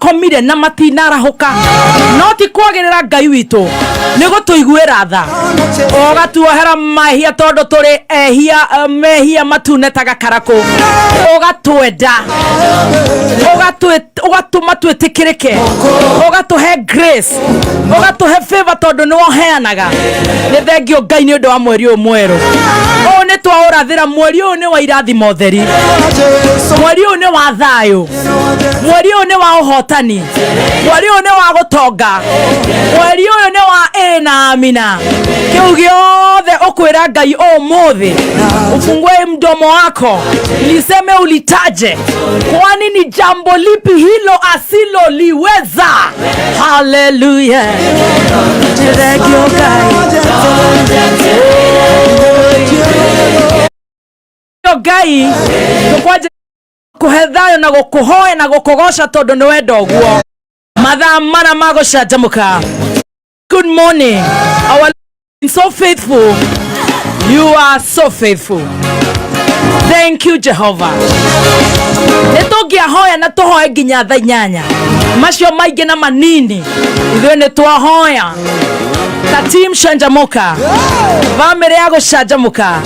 komire na matinarahũka no ti kwagĩrĩra ngai witũ nĩ gũtũiguĩra tha ũgatuohera mahia tondũ tũrĩ ehia eh, mehia matune ta gakarakũ ũgatwenda ũgatwĩ- ũgatũma twĩtĩkĩrĩke ũgatũhe grace ũgatũhe favor tondũ nĩ woheanaga nĩ thengio ngai nĩ ũndũ wa mweri ũyũ mwerũ ũũ nĩ twaũrathĩra mweri ũyũ nĩ wa irathimo theri mweri ũyũ nĩ wa thayũ mweri ũyũ nĩ wa ũhotani mweri ũyũ nĩ wa gũtonga mweri ũyũ nĩ wa ĩ na amina kĩu gĩothe ũkwĩra ngai ũmũthĩ ufungue mdomo wako liseme ulitaje kwani ni jambo lipi hilo asiloliweza haleluya Thank you, guys. ngai nĩkwanja kũhe thayũ na gũkũhoya na gũkũgoca tondũ nĩ wenda ũguo mathaa mana ma gũcanjamũka good morning our so faithful you are so faithful thank you jehova nä tå ngä ahoya na tå hoe nginya tha inyanya macio maingä na manini ithuä nä twahoya ta tim canjamå ka bamä rä ya gå canjamå ka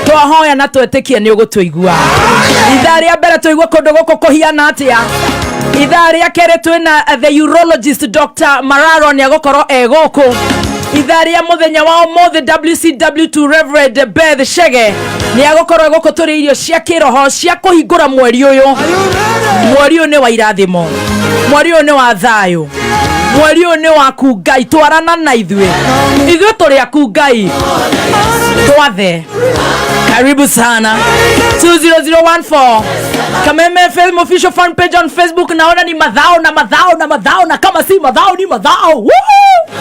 twahoya na twetĩkie nĩ ũgũtũigua ithaa rĩa mbere tũigua kũndũ gũkũ kũhiana atĩa ithaa rĩa kerĩ twĩna uh, the urologist dr mararo nĩ agũkorwo e gũkũ ithaa rĩa mũthenya wa ũmũthĩ wcw2 reverend beth shege nĩ agũkorwo e gũkũ tũrĩ irio cia kĩroho cia kũhingũra mweri ũyũ mweri ũyũ nĩ wa irathimo mweri ũyũ nĩ wa thayũ mweri ũyũ nĩ waku ngai twarana na ithuĩ ithuĩ tũrĩ aku ngai twathe karibu sana 20014 kameme film official fan page on facebook naona ni madhao na madhao na madhao na kama si madhao ni madhao Woohoo!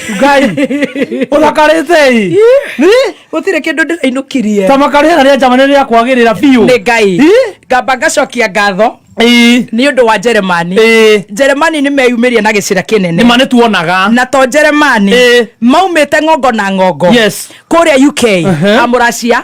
ngai uthakarite gutire kindu ndirainũkirie tamakari ena ria njamani ria kwagirira biũ nĩ ngai Ih. ngamba ngacokia ngatho Ĩĩ, nĩ ũndũ wa njeremani ĩĩ. njeremani nĩ meyumĩria na gĩcĩra nĩ kĩnene ma nĩ tuonaga na to njeremani Ĩĩ. maumĩte ng'ongo na ng'ongo Yes. kũrĩa uk Uh-huh. amũracia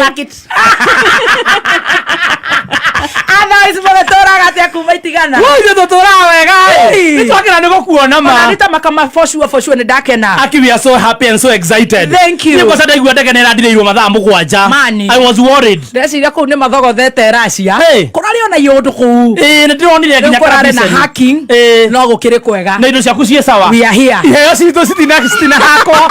Rakits. Athais mũgĩtũraga atĩa kuma itigana Ithuĩ tũtũraga wega Hey. nĩ twakena nĩ gũkuona Ona ma nĩ ta makama for sure for sure nĩ ndakena Aki, we are so happy and so excited. Thank you. Nĩ kwa sababu ndaigua ndege nĩ ĩrandirĩirwo mathaa mũgwanja. Mani. I was worried. ndeciria kũu nĩ mathogothete racia Hey. kũrarĩ ona iũndũ kũu Ĩĩ, nĩ ndĩronire rĩu nginya kũrarĩ na kabiceni. hacking Ĩĩ. no gũkĩrĩ kwega na indo ciaku ciĩ sawa We are here. iheo citũ citina citina hakwa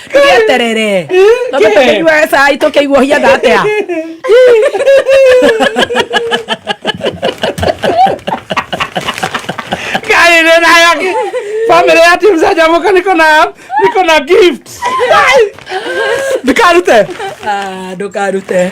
gĩeterere tondũ tũkĩnyua cai tũkĩigua hiatha atĩa kaire nayo family ya team zajamuka niko na niko na gift ndikarute Ah, ndũkarute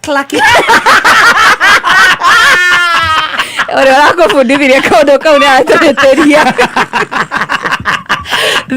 Clacky. Olha, eu confundi, diria que eu dou cão na teria.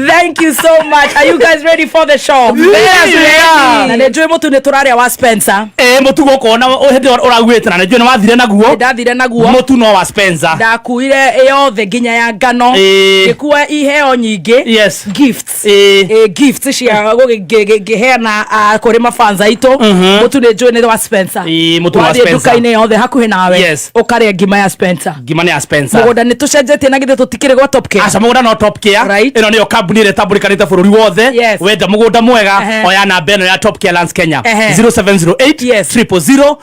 Thank you so much. Are you guys ready for the show? Yes, we are. Na nĩnjũĩ mũtu nĩ tũrarĩa wa Spencer. Eh, mũtu gũkũ na hĩndĩ ĩyo ũraguĩte na nĩnjũĩ nĩ wathire naguo. Ndathire naguo. Mũtu no wa Spencer. Ndakuire yothe nginya ya ngano. Ngĩkua iheo nyingĩ. Yes. Gifts. Eh, eh, gift cia ngĩheana ah, kũrĩ mafans aitũ Mhm. mũtu nĩ njũĩ nĩ wa spencer Eh, mũtu wa wathiĩ Spencer. nduka-inĩ yothe hakuhĩ nawe Yes. ũkarĩa ngima ya spencer ngima nĩ ya spencer mũgũnda nĩ tũcenjetie na githĩ tũtikĩrĩ gwa top care aca mũgũnda no top care Right. ĩno nĩyo kambuni ĩrĩa ĩtambũrĩkanĩte bũrũri wothe Yes. wenda mũgũnda mwega Ehe. oya namba ĩno ya top care lands kenya Ehe. 0708 Yes. 000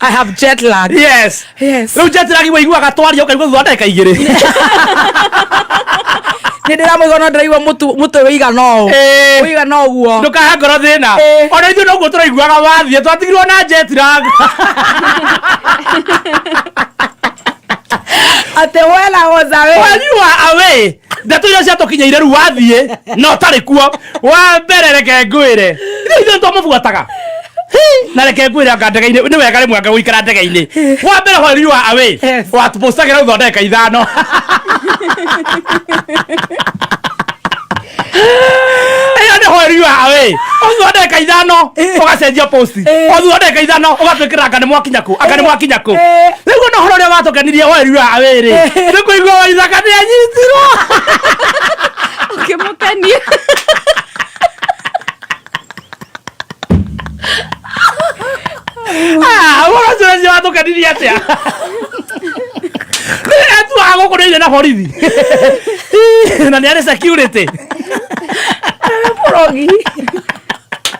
I have jet lag. Yes. Yes. Rĩu jet lag ũiguaga twaria ũkaigua thutha wa ndagĩka igĩrĩ. Nĩ ndĩramũigua no ndĩraigua mũtu mũtu ũigana ũũ. Eh. Ũigana ũguo. Ndũkahe ngoro thĩna. Eh. Ona ithuĩ noguo tũraiguaga wathiĩ twatigirwo na jet lag. Atĩ wela was away. When you are away, ndeto iria ciatũkinyĩire rĩu wathiĩ na ũtarĩ kuo wa mbere reke ngwĩre ithe ithuĩ twamũbuataga na reke ngwĩre anga ndege-inĩ nĩ wega rĩmwe anga gũikara ndege-inĩ wa mbere while you are away Yes. watũbũcagĩra thutha wa ndagĩka ithano ĩyo nĩ while you are away thutha wa ndagĩka ithano ũgacenjia post goti Eh. othu ndagĩka ithano ũgatwĩkĩra anga nĩ mwakinya kũ anga nĩ mwakinya kũ Eh. rĩu ona ũhoro ũrĩa watũkenirie werua awĩrĩ Eh. nĩ kũigua waithaka nĩ anyitirwo ũkĩmũkenia ũhoro ũcio ũcio watũkenirie atĩa etuaga gũkũ nĩ irio na borithi na nĩ arĩ security Rogi.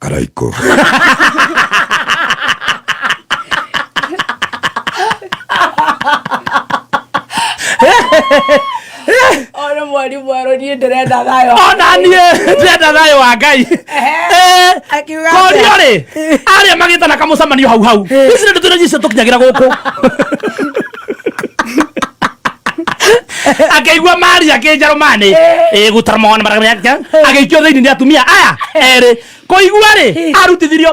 Caraico. Ona mwari mwaro nie ndirenda thayo. Ona nie ndirenda thayo wa Ngai. Eh. Akiuga. Korio ri. Aria magitana kamucamanio hau hau. Ici ndio tunajicia tukinyagira guku. akĩigua mari akĩnjarũmanĩ gũtara mwana marakamenya agĩikio thĩinĩ nĩ atumia aya erĩ kũigua rĩ arutithirio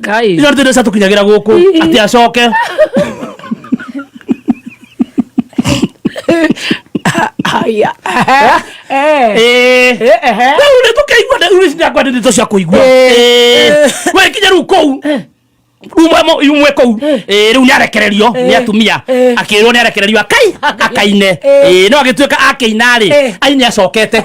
Ngai. icio nĩ cia tũkinyagĩra gũkũ atĩ acoke Aya. Eh. Eh. rĩu nĩ tũkĩigua rĩu ici ndakwa nĩ ndeto cia kũigua Eh. we kinya rĩu kũu umwe mo- umwe kũu Eh, rĩu nĩ arekererio nĩ atumia Eh. akĩrwo nĩ arekererio akai akaine Eh, no agĩtuĩka akĩina rĩ Eh. ai nĩ acokete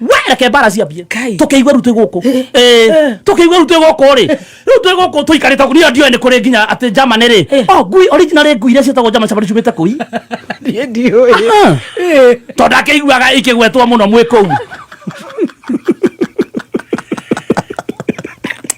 we reke mbara ciambie Kai. tũkĩigue rĩu twĩ gũkũ Ĩ, Eh. tũkĩigue rĩu twĩ gũkũ rĩ rĩu twĩ gũkũ tũikarĩte gũkũ niyo ndiũĩ nĩ kũrĩ nginya atĩ germany rĩ Eh. o ngui original ngui iria ciĩtagwo germany shepherd ciumĩte kũi Niĩ ndiũĩ. Ah. Eh. tondũ akĩiguaga ikĩgwetwo mũno mwĩ kũu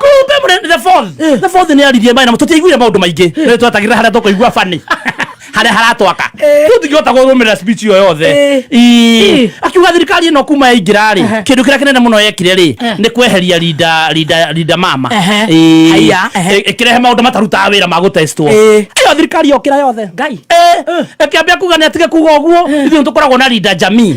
kumbe mũre the fourth the fourth nĩ aririe maĩ na tũtiaiguire maũndũ maingĩ nĩ twatagĩra harĩa tũkũigua bani harĩa haratwaka tũtingĩhota kũrũmĩrĩra speech ĩyo yothe Ii. akiuga thirikari ĩno kuma yaingĩra rĩ kĩndũ kĩrĩa kĩnene mũno yekire rĩ nĩ kweheria rinda rinda rinda mama Ehe. Ii. Haiya, ehe. Ĩ- ĩkĩrehe maũndũ matarutaga wĩra ma gũtestwo Ĩ. ĩyo thirikari yokĩra yothe ngai ĩkĩambia kuga nĩ atige kuga ũguo ithuĩ nĩ tũkoragwo na rinda jamii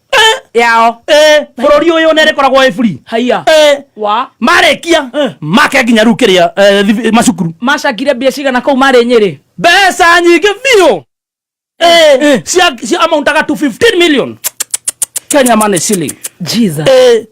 yao Eh, bũrũri ũyũ nĩ rĩkoragwo ĩ buri haiya Eh, wa marĩkia Eh. make nginya rĩu kĩrĩa eh, thibi- macukuru macakire mbia cigana kũu marĩ nyĩrĩ mbeca nyingĩ biũ Eh, cia cia amauntaga to 15 million kenya money shilling jesus Eh,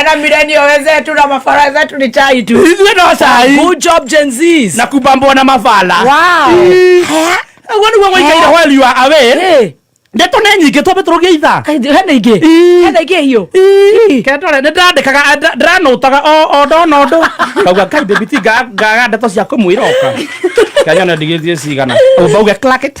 Ena milenio wenzetu na mafara zetu ni chai tu. Ithuĩ no cai Good job Gen Zs. na kumbambwo na mabala Wow. guo nĩguo gwaikaire Eh. while you are away Eh, ndeto nĩ nyingĩ twambe tũrũgie ithaa kai- hena ingĩ. Ii. Hena ingĩ hiyo. kendore nä ndandäkaga ndranåtaga o ndona å ndå ngauga ngai ndäbiti ngaga ndeto cia kå mwä roka nganyona ndigä thiä cigana å mbauge clacket